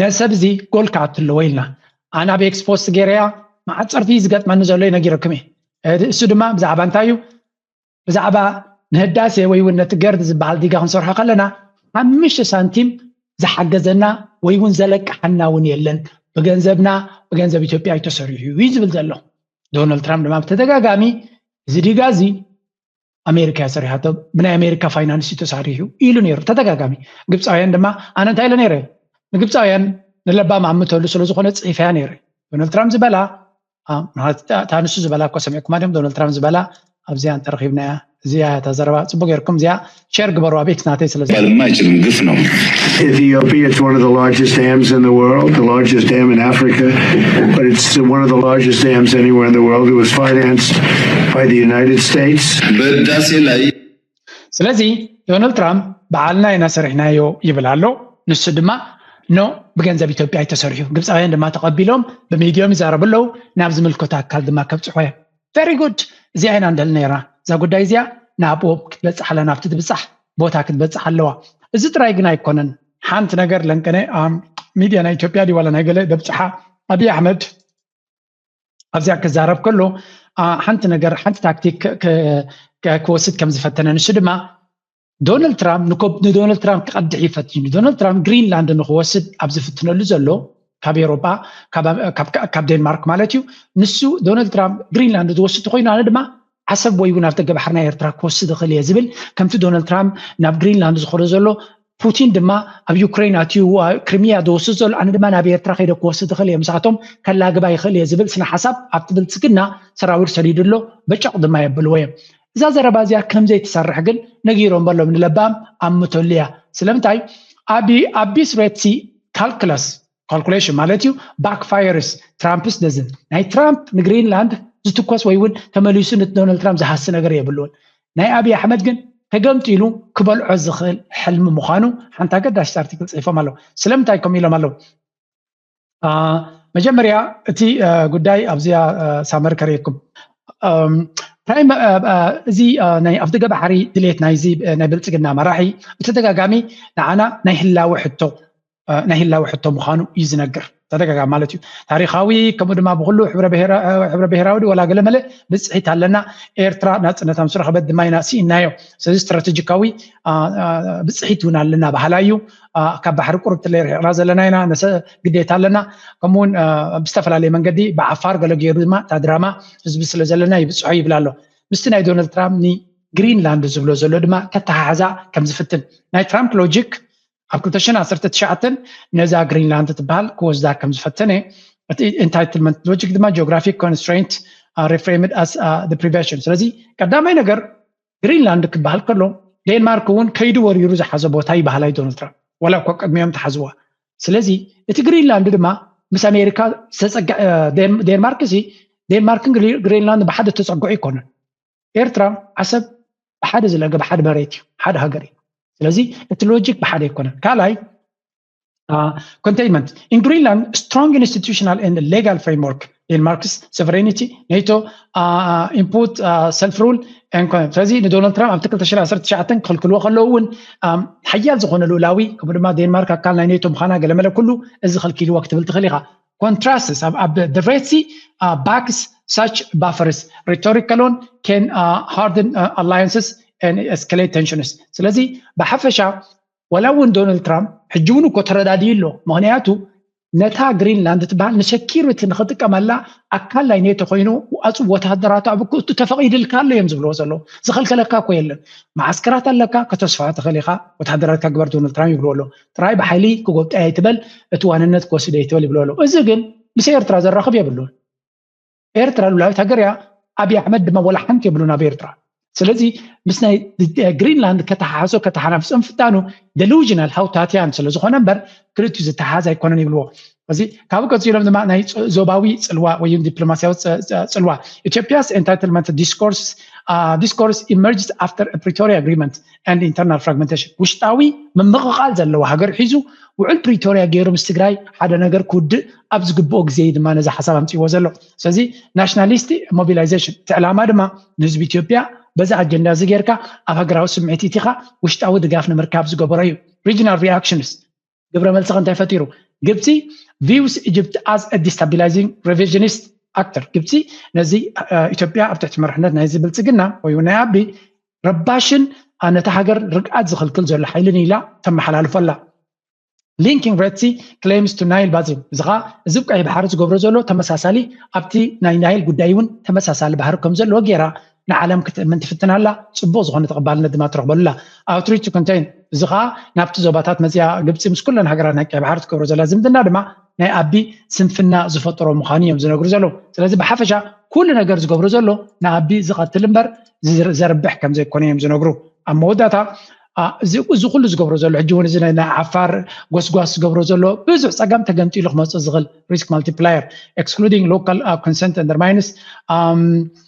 ነዚ ሰብ እዚ ጎል ክኣትለዎ ኢልና ኣነ ኣብ ኤክስፖስት ገይረያ መዓት ፀርፊ እዩ ዝገጥመኒ ዘሎ እዩ ነጊረኩም እየ እሱ ድማ ብዛዕባ እንታይ እዩ ብዛዕባ ንህዳሴ ወይ እውን ነቲ ገርድ ዝበሃል ዲጋ ክንሰርሖ ከለና ሓምሽተ ሳንቲም ዝሓገዘና ወይ እውን ዘለቅሓና እውን የለን ብገንዘብና ብገንዘብ ኢትዮጵያ እዩ ተሰሪሑ እዩ ዝብል ዘሎ ዶናልድ ትራምፕ ድማ ብተደጋጋሚ እዚ ዲጋ እዚ ኣሜሪካ እያ ሰሪሓቶ ብናይ ኣሜሪካ ፋይናንስ እዩ ተሳሪሑ ኢሉ ነይሩ ተደጋጋሚ ግብፃውያን ድማ ኣነ እንታይ ኢለ ነይረ ንግብፃውያን ንለባም ኣምተሉ ስለዝኾነ ፅሒፈያ ነይረ ዶናልድ ትራምፕ ዝበላ እታ ንሱ ዝበላ እኮ ሰሚዕኩማ ድም ዶናልድ ትራምፕ ዝበላ ኣብዚኣ እንተረኺብና እያ እዚኣ እታ ዘረባ ፅቡቅ ጌርኩም እዚኣ ሸር ግበሩ ኣቤት ናተይ ስለ የማይችልም ግፍ ነው Ethiopia, it's one of the largest dams in the world, the largest dam in Africa, but it's one of the largest dams anywhere in the world. It was financed by the United States. ስለዚ ዶናልድ ትራምፕ ባዓልና ኢና ሰሪሕናዮ ይብል ኣሎ ንሱ ድማ ኖእ ብገንዘብ ኢትዮጵያ እዩ ተሰሪሑ ግብፃውያን ድማ ተቀቢሎም ብሚድዮም ይዛረቡ ኣለው ናብ ዝምልከቶ ኣካል ድማ ከብፅሖ እዮም ቨሪ ጉድ እዚኣ ኢና ንደሊ ነይርና እዛ ጉዳይ እዚኣ ናብኡ ክትበፅሕ ኣለና ኣብቲ ትብፃሕ ቦታ ክትበፅሕ ኣለዋ እዚ ጥራይ ግን ኣይኮነን ሓንቲ ነገር ለንቀነ ሚድያ ናይ ኢትዮጵያ ድዩ ዋላ ናይ ገለ ደብፅሓ ኣብይ ኣሕመድ ኣብዚኣ ክዛረብ ከሎ ሓንቲ ነገር ሓንቲ ታክቲክ ክወስድ ከም ዝፈተነ ንሱ ድማ ዶናልድ ትራምፕ ንዶናልድ ትራምፕ ክቐድሕ ይፈትዩ ዶናልድ ትራምፕ ግሪንላንድ ንክወስድ ኣብ ዝፍትነሉ ዘሎ ካብ ኤሮጳ ካብ ዴንማርክ ማለት እዩ ንሱ ዶናልድ ትራምፕ ግሪንላንድ ዝወስድ ኮይኑ ኣነ ድማ ዓሰብ ወይውን ኣፍደገ ባሕሪ ናይ ኤርትራ ክወስድ እኽእል እየ ዝብል ከምቲ ዶናልድ ትራምፕ ናብ ግሪንላንድ ዝኾዶ ዘሎ ፑቲን ድማ ኣብ ዩክሬን ኣትዩ ክሪሚያ ዝወስድ ዘሎ ኣነ ድማ ናብ ኤርትራ ከይደ ክወስድ እኽእል እየ ምስኣቶም ከላግባ ይኽእል እየ ዝብል ስነ ሓሳብ ኣብቲ ብልፅግና ሰራዊር ሰዲዱ ኣሎ በጨቕ ድማ የብልዎ እዮም እዛ ዘረባ እዚኣ ከምዘይ ትሰርሕ ግን ነጊሮም በሎም ንለባም ኣምተሉ እያ ስለምንታይ ኣቢ ኣቢስ ሬትሲ ካልክለስ ካልኩሌሽን ማለት እዩ ባክፋየርስ ትራምፕስ ደዝ ናይ ትራምፕ ንግሪንላንድ ዝትኮስ ወይ እውን ተመሊሱ ንዶናልድ ትራምፕ ዝሃሲ ነገር የብሉን ናይ ኣብዪ ኣሕመድ ግን ተገምጢሉ ክበልዖ ዝኽእል ሕልሚ ምዃኑ ሓንቲ ኣገዳሲት ኣርቲክል ፅሒፎም ኣለዉ ስለምንታይ ከምኡ ኢሎም ኣለዉ መጀመርያ እቲ ጉዳይ ኣብዚኣ ሳመር ከርእየኩም እዚ ናይ ኣብ ደገ ባሕሪ ድሌት ናይዚ ናይ ብልፅግና መራሒ ብተደጋጋሚ ንዓና ናይ ህላወ ሕቶ ናይ ህላወ ሕቶ ምዃኑ እዩ ዝነግር ተደጋጋሚ ማለት እዩ ታሪካዊ ከምኡ ድማ ብኩሉ ሕብረ ብሄራዊ ወላ ገለመለ ብፅሒት ኣለና ኤርትራ ናፅነታ ምስ ረኸበት ድማ ኢና ስኢናዮ ስለዚ ስትራቴጂካዊ ብፅሒት እውን ኣለና ባህላ እዩ ካብ ባሕሪ ቁርብ ትለይ ርሒቕና ዘለና ኢና ግዴታ ኣለና ከምኡውን ብዝተፈላለየ መንገዲ ብዓፋር ገለ ገይሩ ድማ እታ ድራማ ህዝቢ ስለ ዘለና ይብፅሖ ይብል ኣሎ ምስቲ ናይ ዶናልድ ትራምፕ ንግሪንላንድ ዝብሎ ዘሎ ድማ ከተሓሓዛ ከም ዝፍትን ናይ ትራምፕ ሎጂክ ኣብ ክልተ ሽሕን ዓሰርተ ትሽዓተን ነዛ ግሪንላንድ እትበሃል ክወስዳ ከም ዝፈተነ እቲ ኢንታይትልመንት ሎጂክ ድማ ጂኦግራፊክ ኮንስትሬንት ሪፍሬምድ ኣስ ፕሪቨንሽን ስለዚ ቀዳማይ ነገር ግሪንላንድ ክበሃል ከሎ ዴንማርክ እውን ከይዱ ወሪሩ ዝሓዘ ቦታ እዩ ባህላይ ዶናልድ ትራምፕ ዋላ እኮ ቅድሚኦም ተሓዝዋ ስለዚ እቲ ግሪንላንድ ድማ ምስ ኣሜሪካ ዴንማርክ ሲ ዴንማርክን ግሪንላንድ ብሓደ ተፀግዑ ኣይኮነን ኤርትራ ዓሰብ ብሓደ ዝለገ ብሓደ መሬት እዩ ሓደ ሃገር እዩ ስለዚ እቲ ሎጂክ ብሓደ ኣይኮነን ካልኣይ ኮንቴይንመንት ኢን ግሪንላንድ ስትሮንግ ኢንስቲቱሽናል ን ሌጋል ፍሬምወርክ ኢን ማርክስ ሶቨሬኒቲ ኔቶ ኢንፑት ሰልፍ ሩል ስለዚ ንዶናልድ ትራምፕ ኣብቲ 219 ክኽልክልዎ ከለዉ እውን ሓያል ዝኾነ ልኡላዊ ከምኡ ድማ ዴንማርክ ኣካል ናይ ኔቶ ምዃና ገለመለ ኩሉ እዚ ከልኪልዎ ክትብል ትኽእል ኢኻ ኮንትራስትስ ኣብ the red sea uh, backs such buffers rhetorical on can uh, harden uh, alliances and escalate tensions ስለዚ ብሓፈሻ ወላ እውን ዶናልድ ትራምፕ ሕጂ እውን እኮ ተረዳድዩ ኣሎ ምክንያቱ ነታ ግሪንላንድ ትበሃል ንሰኪሪቲ ንክጥቀመላ ኣካል ናይ ኔቶ ኮይኑ ኣፅ ወተሃደራቱ ኣብ ክእቱ ተፈቂድልካ ኣሎ እዮም ዝብልዎ ዘለዉ ዝኸልከለካ እኮ የለን መዓስከራት ኣለካ ከተስፋ ትኽእል ኢኻ ወተሃደራትካ ግበር ዶናልድ ትራምፕ ይብልዎ ኣሎ ጥራይ ብሓይሊ ክጎብጠያ ይትበል እቲ ዋንነት ክወስደ ይትበል ይብሉ ኣለዉ እዚ ግን ምስ ኤርትራ ዘራኽብ የብሉን ኤርትራ ሉላዊት ሃገር እያ ኣብይ ኣሕመድ ድማ ወላ ሓንቲ የብሉን ኣብ ኤርትራ ስለዚ ምስ ናይ ግሪንላንድ ከተሓሓሶ ከተሓናፍሶ ምፍታኑ ደሉዥናል ሃውታትያን ስለ ዝኾነ እምበር ክልቲኡ ዝተሓሓዝ ኣይኮነን ይብልዎ እዚ ካብኡ ቀፂሎም ድማ ናይ ዞባዊ ፅልዋ ወይ ዲፕሎማሲያዊ ፅልዋ ኢትዮጵያስ ኤንታይትልመንት ዲስኮርስ ዲስኮርስ ኢመርጅስ ኣፍተር ፕሪቶሪያ ኣግሪመንት ኣንድ ኢንተርናል ፍራግመንቴሽን ውሽጣዊ ምምቕቓል ዘለዎ ሃገር ሒዙ ውዕል ፕሪቶሪያ ገይሩ ምስ ትግራይ ሓደ ነገር ክውድእ ኣብ ዝግብኦ ግዜ እዩ ድማ ነዚ ሓሳብ ኣምፅዎ ዘሎ ስለዚ ናሽናሊስት ሞቢላይዜሽን እቲ ዕላማ ድማ ንህዝቢ ኢትዮጵያ በዚ ኣጀንዳ እዚ ጌርካ ኣብ ሃገራዊ ስምዒት ኢትኻ ውሽጣዊ ድጋፍ ንምርካብ ዝገበሮ እዩ ሪጅናል ሪኣክሽንስ ግብረ መልሲ ከ እንታይ ፈጢሩ ግብፂ ቪውስ ኢጅፕት ኣዝ ዲስታቢላይዚንግ ሬቪዥኒስት ኣክተር ግብፂ ነዚ ኢትዮጵያ ኣብ ትሕቲ መርሕነት ናይዚ ብልፅግና ወይ ናይ ኣቢ ረባሽን ነቲ ሃገር ርግኣት ዝኽልክል ዘሎ ሓይልን ኢላ ተመሓላልፎ ኣላ ሊንኪንግ ረድሲ ክሌምስ ቱ ናይል ባዚን እዚ ከዓ እዚ ቀይ ባሕሪ ዝገብሮ ዘሎ ተመሳሳሊ ኣብቲ ናይ ናይል ጉዳይ እውን ተመሳሳሊ ባህሪ ከም ዘለዎ ገይራ ንዓለም ክትእምን ትፍትን ኣላ፣ ጽቡቕ ዝኾነ ተቐባልነት ድማ ትረኽበሉ ኣላ። Outreach to Contain፣ እዚ ከኣ ናብቲ ዞባታት መጺኣ ግብጺ ምስ ኩለን ሃገራት ናይ ቀይሕ ባሕሪ ትገብሮ ዘላ ዝምድና ድማ ናይ ኣቢ ስንፍና ዝፈጠሮ ምዃኑ እዮም ዝነግሩ ዘለዉ። ስለዚ ብሓፈሻ ኩሉ ነገር ዝገብሮ ዘሎ ንኣቢ ዝቐትል እምበር ዘርብሕ ከም ዘይኮነ እዮም ዝነግሩ። ኣብ መወዳእታ እዚ እዚ ኩሉ ዝገብሮ ዘሎ ሕጂ እውን እዚ ናይ ዓፋር ጎስጓስ ዝገብሮ ዘሎ ብዙሕ ጸገም ተገምጢሉ ክመጽእ ዝኽእል ሪስክ ማልቲፕላየር ኤክስክሉዲንግ ሎካል ኮንሰንት ኣንደርማይንስ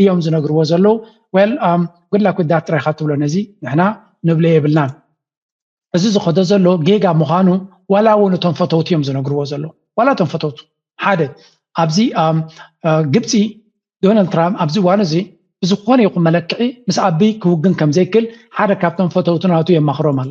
እዮም ዝነግርዎ ዘለዉ ወል ጉድላክ um, ዊዳት ጥራይካ ትብሎ ነዚ ንሕና ንብሎ የብልናን እዚ ዝኸዶ ዘሎ ጌጋ ምዃኑ ዋላ እውን እቶም ፈተውቲ እዮም ዝነግርዎ ዘለዉ ዋላ እቶም ፈተውቱ ሓደ ኣብዚ um, uh, ግብፂ ዶናልድ ትራምፕ ኣብዚ እዋን እዚ ብዝኾነ ይኹን መለክዒ ምስ ኣቢ ክውግን ከም ዘይክል ሓደ ካብቶም ፈተውቲ ናቱ የማኽሮም ኣሎ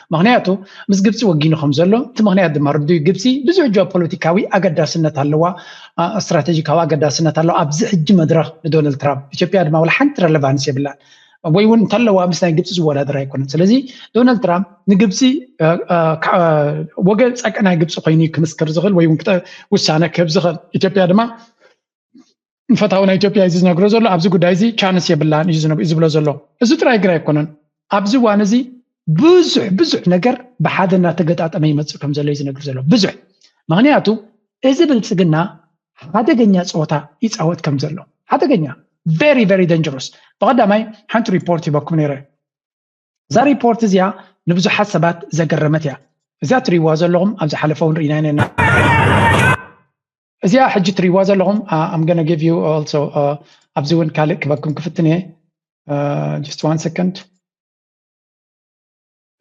ምኽንያቱ ምስ ግብፂ ወጊኑ ከም ዘሎ እቲ ምኽንያት ድማ ርዱይ ግብፂ ብዙሕ ጂኦፖለቲካዊ ኣገዳስነት ኣለዋ፣ ስትራቴጂካዊ ኣገዳስነት ኣለዋ ኣብዚ ሕጂ መድረኽ ንዶናልድ ትራምፕ። ኢትዮጵያ ድማ ዋላ ሓንቲ ረለቫንስ የብላን ወይ እውን እንተለዋ ምስ ናይ ግብፂ ዝወዳደር ኣይኮነን። ስለዚ ዶናልድ ትራምፕ ንግብፂ ወገን ፀቅናይ ግብፂ ኮይኑ ክምስክር ዝኽእል ወይ እውን ውሳነ ክህብ ዝኽእል ኢትዮጵያ ድማ ንፈታውና ኢትዮጵያ እዩ ዝነግሮ ዘሎ። ኣብዚ ጉዳይ እዚ ቻንስ የብላን እዩ ዝብሎ ዘሎ። እዚ ጥራይ ግና ኣይኮነን። ኣብዚ እዋን እዚ ብዙሕ ብዙሕ ነገር ብሓደ እናተገጣጠመ ይመፅእ ከም ዘሎ እዩ ዝነግር ዘሎ ብዙሕ ምክንያቱ እዚ ብልፅግና ሓደገኛ ፀወታ ይፃወት ከም ዘሎ ሓደገኛ ቨሪ ቨሪ ደንጀሮስ ብቀዳማይ ሓንቲ ሪፖርት ሂበኩም ነይረ እዛ ሪፖርት እዚኣ ንብዙሓት ሰባት ዘገረመት እያ እዚኣ ትሪእዋ ዘለኹም ኣብ ዝሓለፈ እውን ርኢና ኢና እዚኣ ሕጂ ትሪእዋ ዘለኹም ኣም ገነ ጊቭ ዩ ኦልሶ ኣብዚ እውን ካልእ ክበኩም ክፍትን እየ ጀስት ዋን ሰከንድ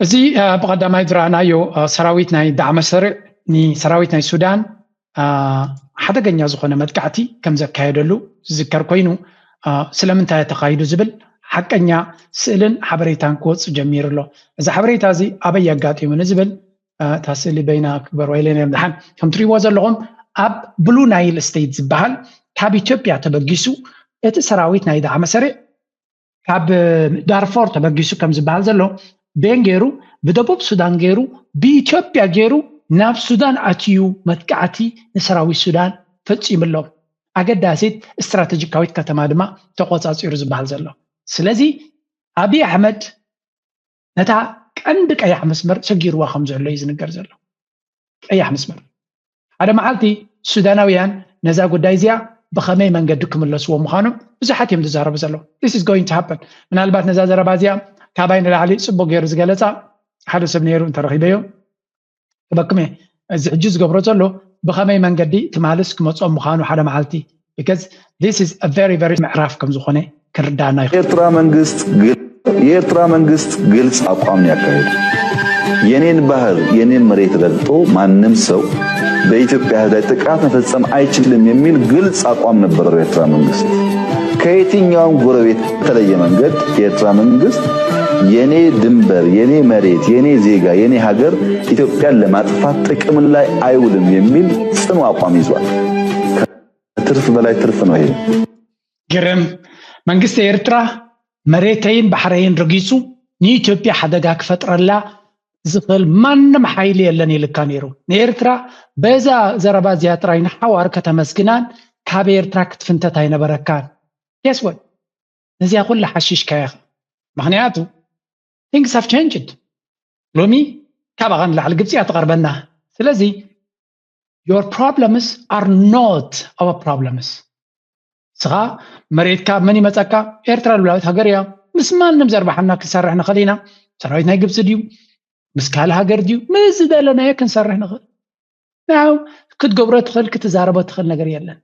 እዚ ብቀዳማይ ዝረኣናዮ ሰራዊት ናይ ዳዕመ ሰርዕ ንሰራዊት ናይ ሱዳን ሓደገኛ ዝኾነ መጥቃዕቲ ከም ዘካየደሉ ዝዝከር ኮይኑ ስለምንታይ ተኻይዱ ዝብል ሓቀኛ ስእልን ሓበሬታን ክወፅ ጀሚሩ ኣሎ እዚ ሓበሬታ እዚ ኣበይ ኣጋጢሙ ንዝብል እታ ስእሊ በይና ክበርዋ ኢለን እዮም ድሓን ከም ትሪእዎ ዘለኹም ኣብ ብሉ ናይል ስቴት ዝበሃል ካብ ኢትዮጵያ ተበጊሱ እቲ ሰራዊት ናይ ዳዕመ ሰሪዕ ካብ ዳርፎር ተበጊሱ ከም ዝበሃል ዘሎ ቤን ገይሩ ብደቡብ ሱዳን ገይሩ ብኢትዮጵያ ገይሩ ናብ ሱዳን ኣትዩ መጥቃዕቲ ንሰራዊት ሱዳን ፈፂሙ ኣሎ ኣገዳሲት ስትራቴጂካዊት ከተማ ድማ ተቆፃፂሩ ዝበሃል ዘሎ ስለዚ ኣብዪ ኣሕመድ ነታ ቀንዲ ቀያሕ መስመር ሰጊርዋ ከም ዘሎ እዩ ዝንገር ዘሎ ቀያሕ መስመር ሓደ መዓልቲ ሱዳናውያን ነዛ ጉዳይ እዚኣ ብኸመይ መንገዲ ክምለስዎ ምዃኖም ብዙሓት እዮም ዝዛረቡ ዘለዉ ስ ጎይን ሃን ምናልባት ነዛ ዘረባ እዚኣ ካባይ ንላዕሊ ፅቡቅ ገይሩ ዝገለፃ ሓደ ሰብ ነይሩ እንተረኪበዮ ክበክሜ እዚ ሕጂ ዝገብሮ ዘሎ ብኸመይ መንገዲ ትማልስ ክመጾም ምዃኑ ሓደ መዓልቲ because this is a very very ምዕራፍ ከም ዝኾነ ክርዳና ይኽእል ኤርትራ መንግስት የኤርትራ መንግስት ግልጽ አቋም ነው ያካሄድ የኔን ባህር የኔን መሬት ረግጦ ማንም ሰው በኢትዮጵያ ህዝብ ላይ ጥቃት መፈጸም አይችልም የሚል ግልጽ አቋም ነበረው የኤርትራ መንግስት ከየትኛውም ጎረቤት በተለየ መንገድ የኤርትራ መንግስት የኔ ድንበር፣ የኔ መሬት፣ የኔ ዜጋ፣ የኔ ሀገር ኢትዮጵያን ለማጥፋት ጥቅም ላይ አይውልም የሚል ጽኑ አቋም ይዟል። ከትርፍ በላይ ትርፍ ነው ይሄ። ግርም መንግስት ኤርትራ መሬተይን ባሕረይን ረጊጹ ንኢትዮጵያ ሓደጋ ክፈጥረላ ዝኽእል ማንም ሓይሊ የለን ኢልካ ነይሩ ንኤርትራ በዛ ዘረባ እዚኣ ጥራይ ንሓዋር ከተመስግናን ካብ ኤርትራ ክትፍንተት ኣይነበረካን ጌስ ወት ነዚኣ ኩላ ሓሺሽካያ ኢኻ ምኽንያቱ ቲንግስ ሃቭ ቸንጅድ ሎሚ ካባኻ ንላዕሊ ግብፂ እያ ትቐርበና ስለዚ ዮር ፕሮብለምስ ኣር ኖት ኣወ ፕሮብለምስ ንስኻ መሬትካ መን ይመፀካ ኤርትራ ልብላዊት ሃገር እያ ምስ ማንም ዘርባሓና ክንሰርሕ ንኽእል ኢና ሰራዊት ናይ ግብፂ ድዩ ምስ ካልእ ሃገር ድዩ ምስ ዝደለናዮ ክንሰርሕ ንኽእል ያው ክትገብሮ ትኽእል ክትዛረቦ ትኽእል ነገር የለን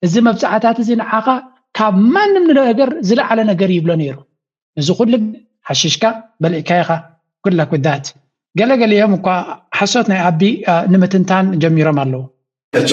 እዚ መብፅዓታት እዚ ንዓኻ ካብ ማንም ነገር ዝለዓለ ነገር ይብሎ ነይሩ እዚ ኩሉ ሓሽሽካ በልዕካ ኢኻ ጉድ ላክ ዳት ገለገሊኦም እኳ ሓሶት ናይ ኣቢ ንምትንታን ጀሚሮም ኣለዉ ሕጂ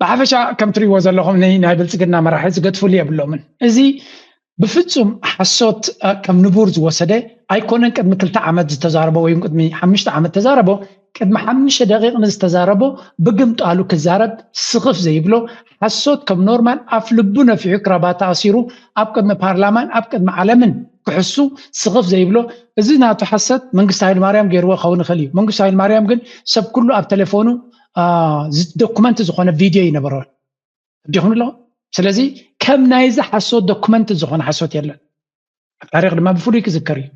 ብሓፈሻ ከም ትሪእዎ ዘለኹም ናይ ብልፅግና መራሒ ዝገድፍሉ የብሎምን። እዚ ብፍፁም ሓሶት ከም ንቡር ዝወሰደ ኣይኮነን። ቅድሚ ክልተ ዓመት ዝተዛረቦ ወይ ቅድሚ ሓምሽተ ዓመት ተዛረቦ ቅድሚ ሓምሽተ ደቂቕ ንዝተዛረቦ ብግምጣሉ ክዛረብ ስኽፍ ዘይብሎ ሓሶት ከም ኖርማል ኣፍ ልቡ ነፊሑ ክራባታ ኣሲሩ ኣብ ቅድሚ ፓርላማን ኣብ ቅድሚ ዓለምን ክሕሱ ስኽፍ ዘይብሎ እዚ ናቱ ሓሰት መንግስቲ ሃይለማርያም ገይርዎ ክኸውን ይኽእል እዩ። መንግስቱ ሃይለማርያም ግን ሰብ ኩሉ ኣብ ቴሌፎኑ ዶኩመንት ዝኾነ ቪድዮ እዩ ነበረ ዲኹን ኣሎ ስለዚ ከም ናይዚ ሓሶት ዶኩመንት ዝኾነ ሓሶት የለን ኣብ ታሪክ ድማ ብፍሉይ ክዝከር እዩ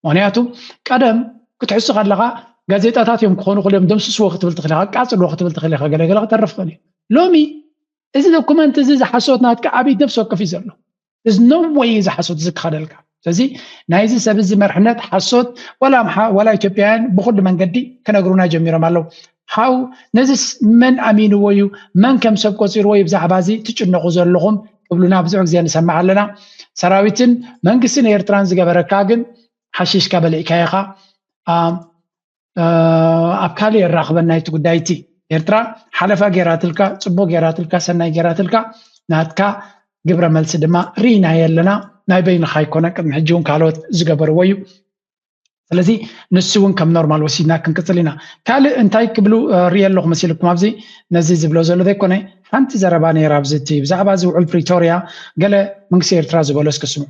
ምክንያቱ ቀደም ክትሕሱ ከለካ ጋዜጣታት እዮም ክኾኑ ክልዮም ደምስስዎ ክትብል ትኽእል ኢካ ቃፅልዎ ክትብል ትኽእል ኢካ ገለገለ ክተርፍ ክእል እዩ ሎሚ እዚ ዶኩመንት እዚ ዝሓሶት ናትካ ኣብይ ነብሲ ወከፍ እዩ ዘሎ እዚ ነወይ እዚ ሓሶት እዚ ክኸደልካ ስለዚ ናይዚ ሰብ እዚ መርሕነት ሓሶት ዋላ ኣምሓ ዋላ ኢትዮጵያውያን ብኩሉ መንገዲ ክነግሩና ጀሚሮም ኣለዉ ሓው ነዚስ መን ኣሚንዎ እዩ መን ከም ሰብ ቆፂርዎ እዩ ብዛዕባ እዚ ትጭነቑ ዘለኹም ክብሉና ብዙሕ ግዜ ንሰምዕ ኣለና ሰራዊትን መንግስትን ኤርትራን ዝገበረካ ግን ሓሽሽካ በሊዕካ ኢኻ ኣብ ካልእ የራኽበና እቲ ጉዳይ እቲ ኤርትራ ሓለፋ ጌራትልካ ፅቡቅ ጌራትልካ ሰናይ ጌራትልካ ናትካ ግብረ መልሲ ድማ ርኢናዮ ኣለና ናይ በይንኻ ይኮነ ቅድሚ ሕጂ እውን ካልኦት ዝገበርዎ እዩ ስለዚ ንሱ እውን ከም ኖርማል ወሲድና ክንቅፅል ኢና ካልእ እንታይ ክብሉ ሪኦ ኣለኹ መሲልኩም ኣብዚ ነዚ ዝብሎ ዘሎ ዘይኮነ ሓንቲ ዘረባ ነይራ ኣብዚ እቲ ብዛዕባ እዚ ውዕል ፕሪቶርያ ገለ መንግስቲ ኤርትራ ዝበሎ እስኪ ስምዑ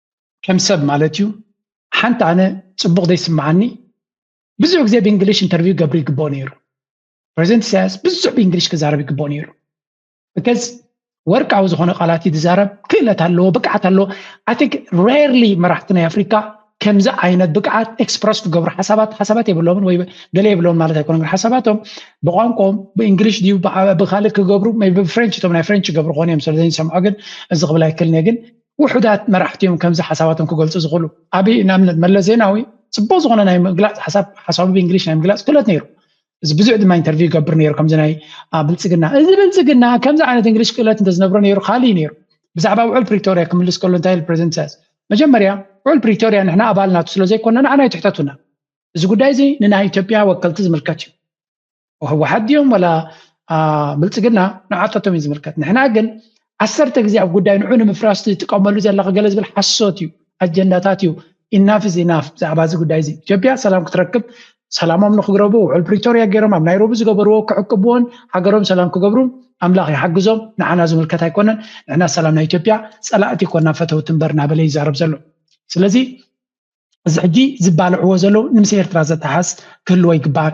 ከም ሰብ ማለት እዩ ሓንቲ ኣነ ፅቡቅ ዘይስምዓኒ ብዙሕ ግዜ ብእንግሊሽ ኢንተርቪው ገብሪ ይግብኦ ነይሩ ፕሬዚደንት ኢሳያስ ብዙሕ ብእንግሊሽ ክዛረብ ይግብኦ ነይሩ ብከዝ ወርቃዊ ዝኮነ ቃላት እዩ ዝዛረብ ክእለት ኣለዎ ብቅዓት ኣለዎ ኣይ ቲንክ ሬርሊ መራሕቲ ናይ ኣፍሪካ ከምዚ ዓይነት ብቅዓት ኤክስፕረስ ክገብሩ ሓሳባት ሓሳባት የብሎምን ወይ ገለ የብሎምን ማለት ኣይኮነ ግን ሓሳባቶም ብቋንቋኦም ብእንግሊሽ ድዩ ብካልእ ክገብሩ ብፍሬንች እቶም ናይ ፍሬንች ይገብሩ ኮን እዮም ስለዘይሰምዖ ግን እዚ ክብል ኣይክልን እየ ግን ውሑዳት መራሕቲ እዮም ከምዚ ሓሳባቶም ክገልፁ ዝኽእሉ። ኣብይ ንኣብነት መለስ ዜናዊ ፅቡቕ ዝኾነ ናይ ምግላፅ ሓሳብ ሓሳቡ ብእንግሊሽ ናይ ምግላፅ ክእለት ነይሩ። እዚ ብዙሕ ድማ ኢንተርቪው ይገብር ነይሩ ከምዚ ናይ ብልፅግና እዚ ብልፅግና ከምዚ ዓይነት እንግሊሽ ክእለት እንተዝነብሮ ነይሩ ካልእ እዩ ነይሩ ብዛዕባ ውዕል ፕሪቶሪያ ክምልስ ከሎ እንታይ ኢሉ ፕሬዚደንት ኢሳያስ መጀመርያ ውዕል ፕሪቶሪያ ንሕና ኣባል ናቱ ስለ ዘይኮና ንዓና ይትሕተቱና እዚ ጉዳይ እዚ ንናይ ኢትዮጵያ ወከልቲ ዝምልከት እዩ ህወሓት ድዮም ወላ ብልፅግና ንዓታቶም እዩ ዝምልከት ንሕና ግን ዓሰርተ ግዜ ኣብ ጉዳይ ንዑ ንምፍራስ ትጥቀመሉ ዘለካ ገለ ዝብል ሓሶት እዩ ኣጀንዳታት እዩ ኢናፍ እዚ ኢናፍ ብዛዕባ እዚ ጉዳይ እዚ ኢትዮጵያ ሰላም ክትረክብ ሰላሞም ንክግረቡ ውዕል ፕሪቶርያ ገይሮም ኣብ ናይሮቢ ዝገበርዎ ክዕቅብዎን ሃገሮም ሰላም ክገብሩ ኣምላኽ ይሓግዞም ንዓና ዝምልከት ኣይኮነን ንሕና ሰላም ናይ ኢትዮጵያ ፀላእቲ ኮና ፈተውቲ እምበር እናበለ ይዛረብ ዘሎ ስለዚ እዚ ሕጂ ዝባልዕዎ ዘለዉ ንምስ ኤርትራ ዘተሓዝ ክህልዎ ይግባእ